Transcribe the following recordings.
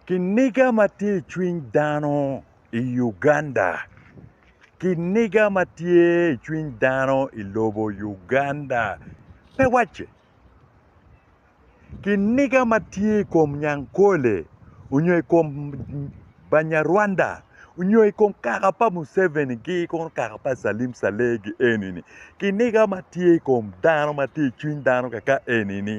Kiniga ma tye i cwiny dano i Uganda. Kiniga ma tye i cwiny dano i lobo Uganda pe wacce. Kiniga ma tye i kom Nyankole onyo i kom Banyarwanda onyo i kom kaka pa Museveni gi kono kaka pa Salim Saleh gi eni ni kiniga ma tye i kom dano ma tye i cwiny dano kaka eni ni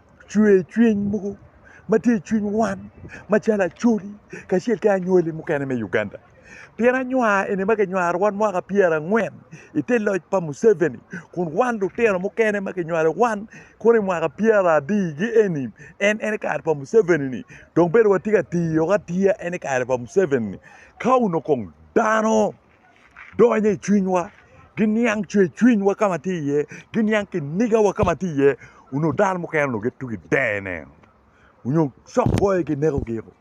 cwer cwiny mogo ma tye i cwiny wan macalo Acholi kacel ki anywali mukene me Uganda. Pien anywar eni ma kinywaro wan mwaka pyera angwen ite loc pa Museveni kun wan lutino mukene ma kinywalo wan kono i mwaka pyera abii gi eni en en kare pa Museveni ni dong bedo watye ka tiyo atiya en kare pa Museveni ni ka onongo kong dano donyo i cwinywa, giniang cwercwinywa ka ma tye iye, giniang kinigawa ka ma tye iye onongo dano mukene onongo gitye gidene nyo cokboyo ginekogi-o.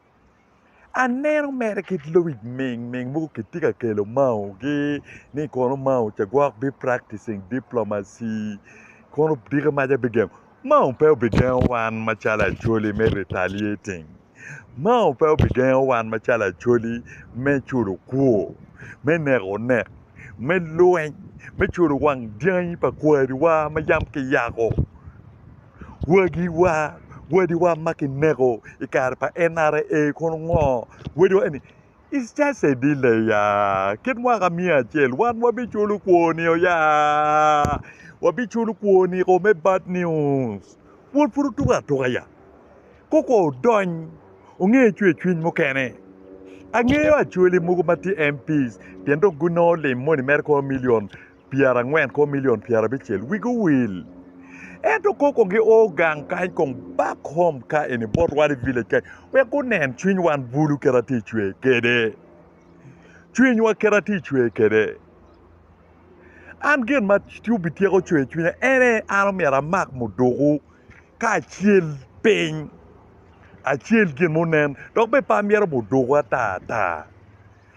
Aneno mere kit luwic mingming mogo kitye ka kelo maogi ni kono mao ca gwok bipracticing diplomacy kono diki maca bigengo. Mao pe obigengo wan macalo Acholi me retaliating. Mao pe obigengo wan macalo Acholi me culo kwor, me neko onek, me lweny, me culo wang dyangi pa kwariwa ma yam kiyako, wagiwa, wadiwa ma kineko i kare pa NRA kono ngo? Wadiwa eni It's just a delay ya. Kit mwaka miya acel wan wabiculo kwoni o ya. Wabiculo kwoni ko me bad news. Pwod pud otuko atuka ya. Koko odony onge cwe cwiny mukene. Angeyo acwele mogo ma tye MPs pien dong gunongo lim moni mere kono million pyerangwen kong milion pyerabicel wigi owil ento kong kong gi oo gang kany kong back home ka eni bot wan i village kany wek gunen cwiny wan bulu kit atye i cwer kede cwiny wa kit atye i cwer kede an gin ma obityeko cwer cwinya ene an omyero amak muduku ka acel piny acel gin munen dok bene pe amyero muduku ata ata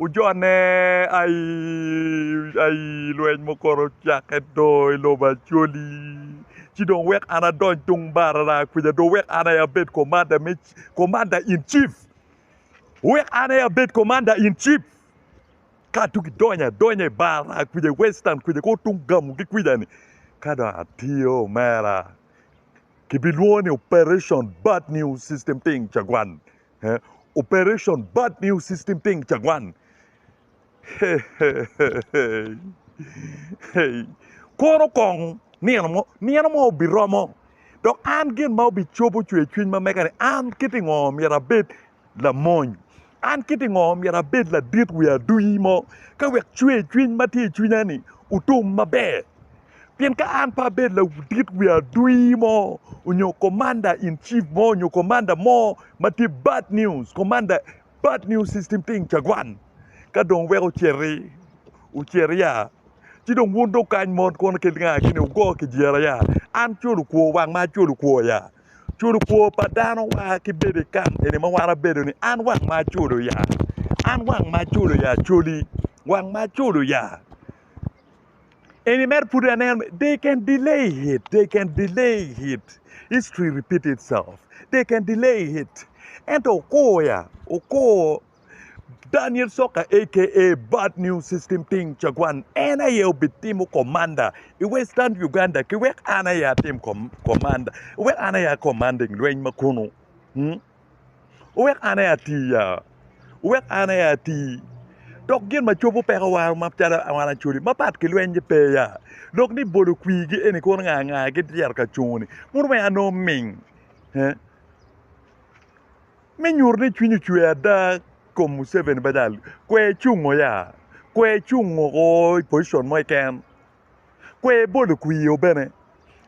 Ojonne aii lweny mukoto ocakke do i lobo Acholi ci dong wek an adony tung barara kwica do wek an aye abed komanda me komanda in cif wek an aye abed komanda in cif ka tung idonyo adonya i barara kwica i western kwica kong tung gamugi kwica-ni ka dong atiyo omera kibilwongo ni operation bad news system thing cagwan. Operation Bad News System Ting Cagwan. Koro kong nino mo, nino mo obiromo dok an gin ma obicobo cwercwiny ma mega ni an kit i ngo myero abed lamony, an kit i ngo myero abed ladit wi aduyi mo ka wek cwercwiny ma tye i cwinya ni otum maber. Pien ka an pe abedo laudit wi adui mo onyo komanda in cif mo onyo komanda mo ma tye bad nius, komanda bad nius system tye cagwan ka dong wek ociti ocit ya ci dong wun dong kany mot kono kit nga gini wugo kijira ya an culu kwor wang ma culu kwor ya culu kwor pa dano wa ki bedo i kam eni ma wan abedo ni an wang ma culu ya an wang ma culu ya culi wang ma culu ya. Eni mere pud aneno me they can delay it, they can delay it. History repeat itself. They can delay it. Ento okor ya, okor Daniel Soka aka Bad New System Ting Cagwan en aye obitimo komanda i Western Uganda ki wek an aye atim komanda, wek an aye akommanding lweny ma kunu. Wek an aye ati ya, wek an aye ati. Dok gin ma cobo peko war ma calo wan acoli mapat ki lweny-nyi pe ya, dok ni bolo kwirgi eni kono nga nga gityero ka cungo-ni mono me an nongo ming me nyuto ni cwiny ocwer ada i kom Museveni ma jalo kwer cungo ya, kwer cungo woko i pocicon mo keken. kwe ibolo kwir o bene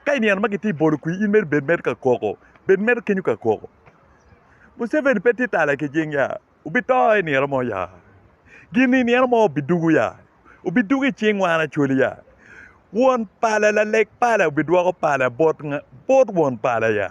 ka inino ma kitye bolo kwir in mere bed mere ka koko bed mere kenyo ka koko Museveni pe tye tala ki cing ya obito i nino mo ya gin i nino mo obidugo ya obidugo i cing wan Acholi ya won pala laleg pala obidwoko pala bot won pala ya.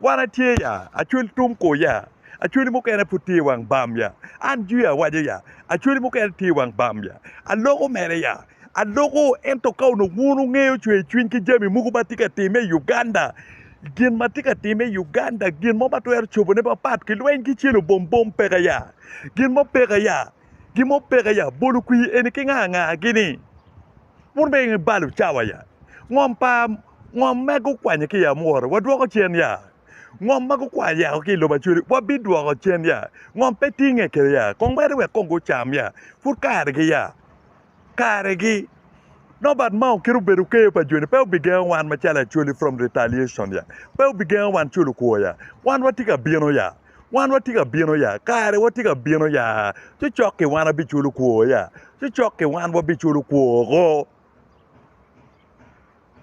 Wan atye ya, acwali tung kor ya, acwali mukene pud tye i wang bam ya, an jwi awaco ya, acwali mukene tye i wang bam ya, aloko mere ya, aloko, ento ka onongo wun wungeyo cwer cwiny ki jami mogo ma tye ka timme i Uganda, gin ma tye ka timme i Uganda, gin mo ma twero cobone mapat ki lweny ki celo bom bom peke ya, gin mo peke ya, gin mo peke ya, bolo kwir eni ki nga nga gini. Wun bene i balo cawa ya. Ngom pa ngom ma gukwanyo ki i amwora wadwoko cen ya? Ngom ma gukwanyo yako ki i lobo Acoli wabidwoko cen ya? Ngom pe tinge kede ya? Kong mere wek kong gucam ya. Pud karegi ya. Karegi. Nobat ma okito obedo keyo pa joni pe obigengo wan macalo Acholi from retaliation ya. Pe obigengo wan culo kwor ya. Wan watye ka bino ya. Wan watye ka bino ya, kare watye ka bino ya, cocok-ki wan wabiculo kwor ya, cocok-ki wan wabiculo kwor-ro.